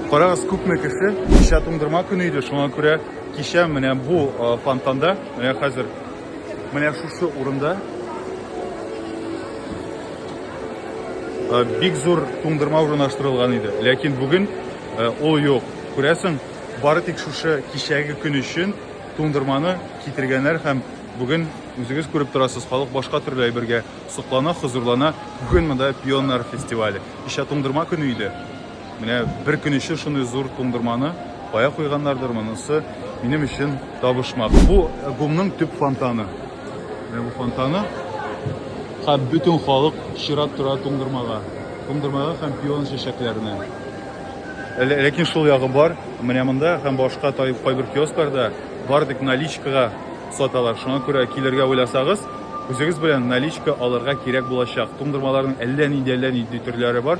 Карагыз, күпме кеше, кичә туңдырма көне иде, шуңа күрә кичә менә бу фонтанда, менә хәзер, менә шушы урында бик зур туңдырма урнаштырылган иде. Ләкин бүген ул юк. Күрәсең, бары тик шушы кичәге көн өчен туңдырманы китергәннәр һәм бүген үзегез күреп торасыз, халык башка төрле әйбергә соклана, хозурлана. Бүген монда пионнар фестивале. Кичә туңдырма көне иде. Менә бер көн өчен шундый зур туңдырманы кая куйганнардыр, монысы минем өчен табышмак. Бу гумның төп фонтаны. Менә бу фонтаны. Һәм бөтен халык чират тора туңдырмага. Туңдырмага һәм пион чәчәкләренә. Ләкин шул ягы бар, менә монда һәм башка тай кайбер киоскларда бар тик наличкага саталар. Шуңа күрә килергә уйласагыз, үзегез белән наличка алырга кирәк булачак. Туңдырмаларның әллә нинди әллә нинди төрләре бар.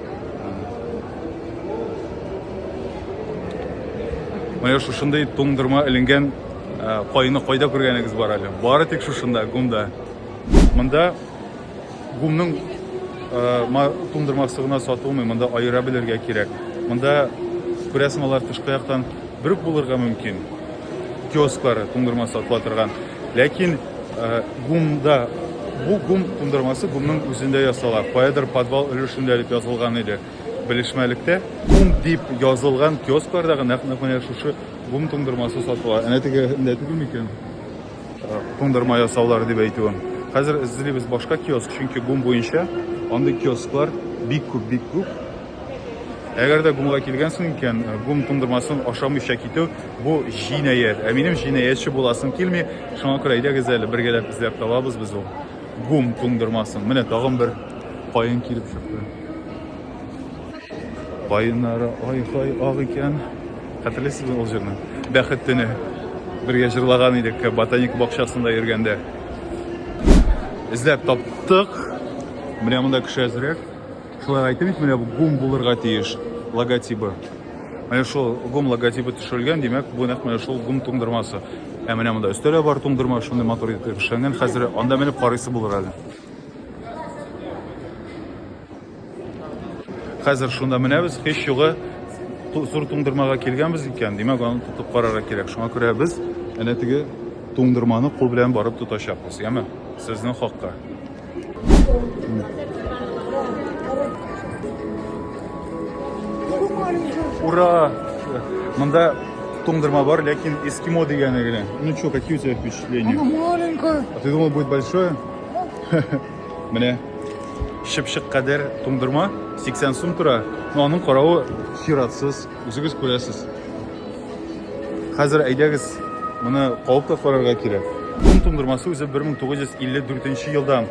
Менә шушындый туңдырма эленгән кайны э, кайда күргәнегез бар әле? Бары тик шушында, гумда. Монда гумның э, туңдырмасы гына сатылмый, монда аера белергә кирәк. Монда күрәсең алар тышкы яктан бер булырга мөмкин. Киосклары туңдырма сатыла торган. Ләкин Э, гумда бу гум тундырмасы гумның үзендә ясала каядыр подвал өлешендә дип язылган иде белешмәлектә гум дип язылган киоскларда гына нәкъ менә шушы гум тундырмасы сатыла әнә тегендә түгел микән э, тундырма ясаулары дип әйтүем хәзер эзлибез башка киоск чөнки гум буенча андый киосклар бик күп бик күп Әгәр дә гумга килгәнсең икән, э, гум туңдырмасын ашамыйча китү бу җинаять. Ә минем җинаятьче буласым килми. Шуңа күрә әйдәгез әле бергәләп эзләп табабыз без ул гум туңдырмасын. Менә тагын бер каен килеп чыкты. Каеннары ай-хай ак икән. Хәтерлисезме ул җырны? Бәхет төне. Бергә җырлаган идек ботаник бакчасында йөргәндә. Эзләп таптык. Менә монда кеше әзрәк. Шулай әйтте бит, менә бу гум булырга тиеш логотибы. Менә шул гум логотибы төшерелгән, димәк, бу нәкъ менә шул гум туңдырмасы. Ә менә монда өстәлә бар туңдырма, шундый матур итеп эшләнгән. Хәзер анда менеп карыйсы булыр әле. Хәзер шунда менәбез, һич югы зур туңдырмага килгәнбез икән, димәк, аны тотып карарга кирәк. Шуңа күрә без әнә теге туңдырманы кул белән барып тотачакбыз, яме? Сезнең хакка. Ура! Мында туңдырма бар, ләкин эскимо дигәне генә. Ну что, какие у тебя впечатления? Она маленькая. А ты думал, будет большое? Менә шыпшык кадәр туңдырма 80 сум тора. Но аның каравы чиратсыз. Үзегез күрәсез. Хәзер әйдәгез, моны кабып та карарга кирәк. Бун туңдырмасы үзе 1954 елда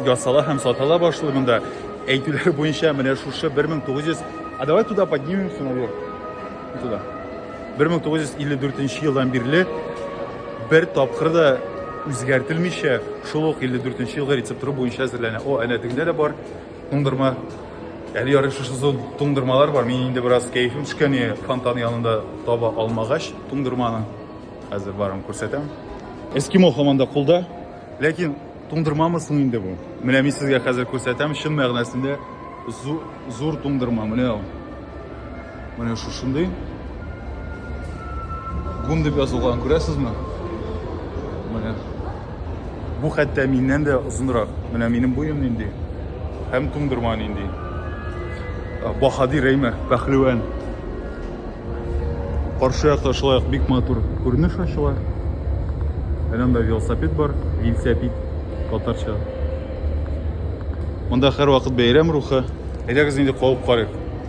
ясала һәм сатыла башлый монда. Әйтүләр буенча менә шушы 1900 А давай туда поднимемся наверх. Туда. 1954 елдан бирле бер тапкыр да үзгәртелмичә шул ук 54 елгы рецептура буенча әзерләнә. О, әнә тегендә дә бар. Туңдырма. Әле ярый шушы зон туңдырмалар бар. Мин инде бераз кәефем төшкән иде, фонтан янында таба алмагач туңдырманы. Хәзер барым күрсәтәм. Эскимо һаман да кулда. Ләкин туңдырмамы соң инде бу? Менә мин сезгә хәзер күрсәтәм, чын мәгънәсендә зур туңдырма. Менә ул. Менә шушындый. Гум дип язылган, күрәсезме? Менә. Бу хәтта миннән дә озынрак. Менә минем буем нинди. Һәм туңдырма нинди. Баһадир әйме, пәхлевән. Каршы якта шулай ук бик матур күренеш ачыла. Әнә монда велосипед бар, велосипед татарча. Монда һәрвакыт бәйрәм рухы. Әйдәгез инде калып карыйк.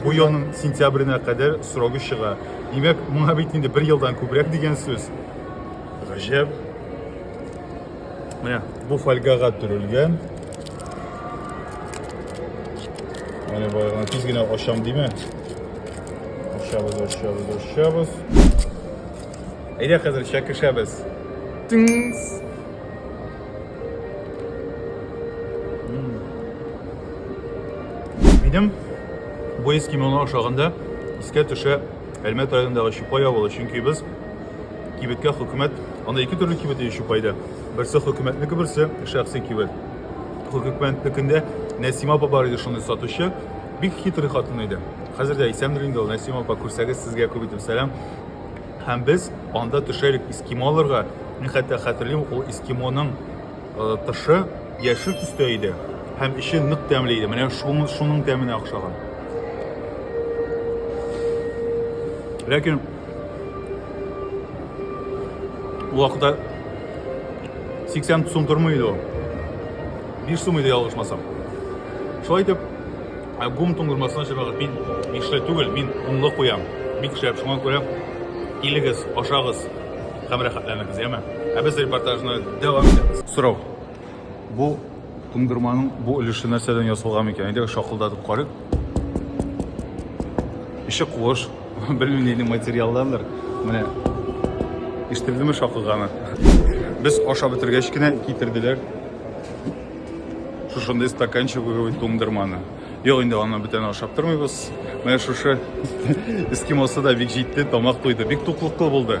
Бу елның сентябренә кадәр срогы чыга. Димәк, моңа бит инде бер елдан күбрәк дигән сүз. Гаҗәп. Менә бу фольгага төрелгән. Менә баягына тиз генә ашам диме? Ашабыз, ашабыз, ашабыз. Әйдә хәзер чәкешәбез. Тыңс. Минем бу ес кимоно ашаганда искә төшә Әлмәт районындагы Чупай авылы, чөнки без кибеткә хөкүмәт, анда ике төрле кибет ие Чупайда. Берсе хөкүмәтнеке, берсе шәхси кибет. Хөкүмәтнекендә Нәсима апа бар иде шуны сатучы. Бик хитрый хатын иде. Хәзер дә исәндер инде ул Нәсима апа күрсәгез сезгә күп итеп сәлам. Һәм без анда төшә идек эскимоларга. Мин хәтта хәтерлим, ул эскимоның э, тышы яшел төстә иде һәм эче нык тәмле иде. Менә шуның шуның тәменә охшаган. Ләкин ул вакытта 80 сум тормый иде ул. 5 сум иде ялгышмасам. Шулай итеп Ә гум туңдырмасына чыгагыз. Мин ишле түгел, мин гумлы куям. Бик шәп, шуңа күрә килегез, ашагыз һәм рәхәтләнегез, яме. Ә без репортажны дәвам итәбез. Сорау. Бу туңдырманың бу өлеше нәрсәдән ясалган икән? Әйдәгез шакылдатып карыйк. Ише куыш, белмим нинди материалдандыр. Менә ишетелдеме шакылганы? Без ашап бетергәч кенә китерделәр. Шушындый стаканчик выговить туңдырманы. Юк, инде аны бүтән ашап тормыйбыз. Менә шушы эскимосы да бик җитте, тамак туйды. Бик туклыклы булды.